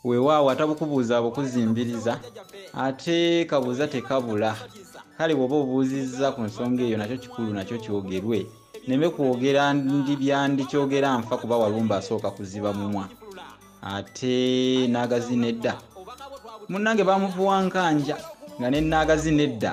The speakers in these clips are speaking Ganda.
weewaawo atabukubuuza abukuzimbiriza ate kabuuza tekabula kale bw'oba obuuzizza ku nsonga eyo nakyo kikulu nakyo kyogerwe neme kwogera ndi byandikyogera nfa kuba walumba asooka kuziba mumwa ate naagazi nedda munnange bamuvuwa nkanja nga ne naagazi nedda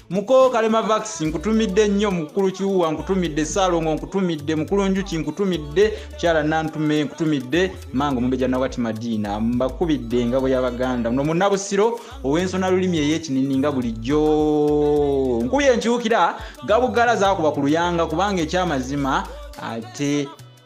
mukoo kalema vax nkutumidde nnyo mukulu kiwuwa nkutumidde saalongo nkutumidde mukulu njuki nkutumidde kyala nantume nkutumidde manga omumbeja nawati madiina mbakubidde engabo y'abaganda muno munabusiro ow'ensona lulimi ey'ekinini nga bulijjo nkubye enkyukira gabugala zakuba ku luyanga kubanga ekyamazima ate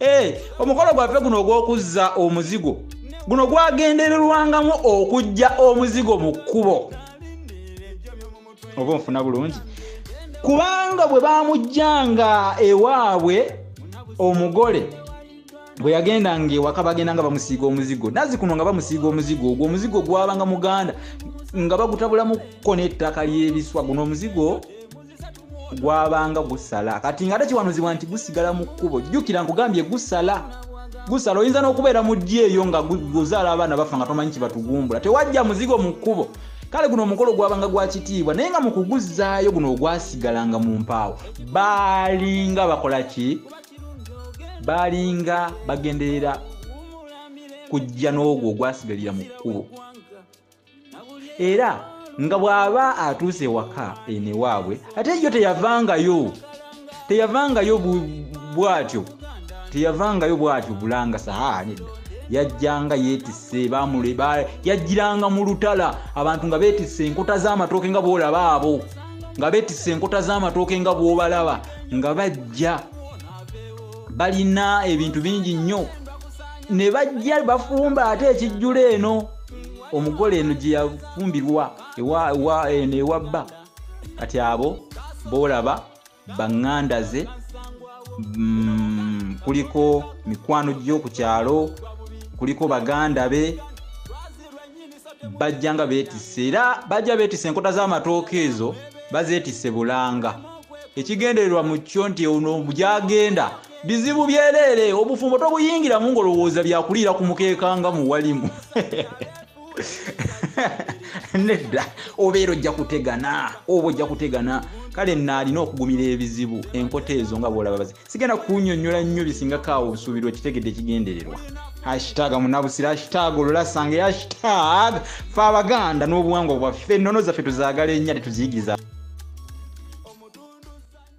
Eh, omukolo gwaffe guno ogw'okuzza omuzigo guno gwagendererwangamu okujja omuzigo mu kkubo oba onfuna bulungi kubanga bwe bamujjanga ewaabwe omugole bwe yagendanga ewaka bagenda nga bamusiiga omuzigo nazi kuno nga bamusiiga omuzigo ogwo omuzigo gwabanga muganda nga bagutabulamuko n'ettaka ly'ebiswa guno omuzigo gwabanga gusala kati nga tekiwanuzibwa nti gusigala mu kkubo jjukira nkugambye gusala gusala oyinza n'okubeera mu ddyo eyo nga guzaala abaana bafa nga tomanyi kibatugumbula tewajja muzigo mu kkubo kale guno omukolo gwabanga gwa kitiibwa naye nga mu kuguzzaayo guno ogwasigalanga mu mpaawo baalinga bakola ki baalinga bagenderera kujja n'ogwo ogwasigalira mu kkubo era nga bw'aba atuuse ewaka eno ewaabwe ate yo teyavangayo teyavangayo bwatyo teyavangayo bwatyo bulanga sahaa nedda yajjanga yeetisse bamule yajjiranga mu lutala abantu nga beetisse enkota z'amatooke nga bw'olaba abo nga beetisse enkota z'amatooke nga bw'obalaba nga bajja balina ebintu bingi nnyo ne bajja bafumba ate ekijjula eno omugole eno gye yafumbirwa eno ewa bba kati abo boolaba baŋŋanda ze mm, kuliko mikwano gyo ku kyalo kuliko baganda be bajja nga beetisse era bajja beetisse enkota z'amatooka ezo bazeetisse bulanga ekigendererwa mu kyo nti ono gyagenda bizibu byeleere obufumbo tobuyingiramu ngolowooza byakuliira ku mukeeka nga muwalimu nedda obeera ojja kutegana oba ojja kutegana kale naalina okugumira ebizibu enkota ezo nga bwolaba bazi sigenda kunyonyola nnyo bisingako awo obusuubirwa kitegedde ekigendererwa hashtag munabusira hashtag olulasanga hashtag fe abaganda n'obuwangwa bwaffe ennono zaffe tuzagala ennya tetuziyigiriza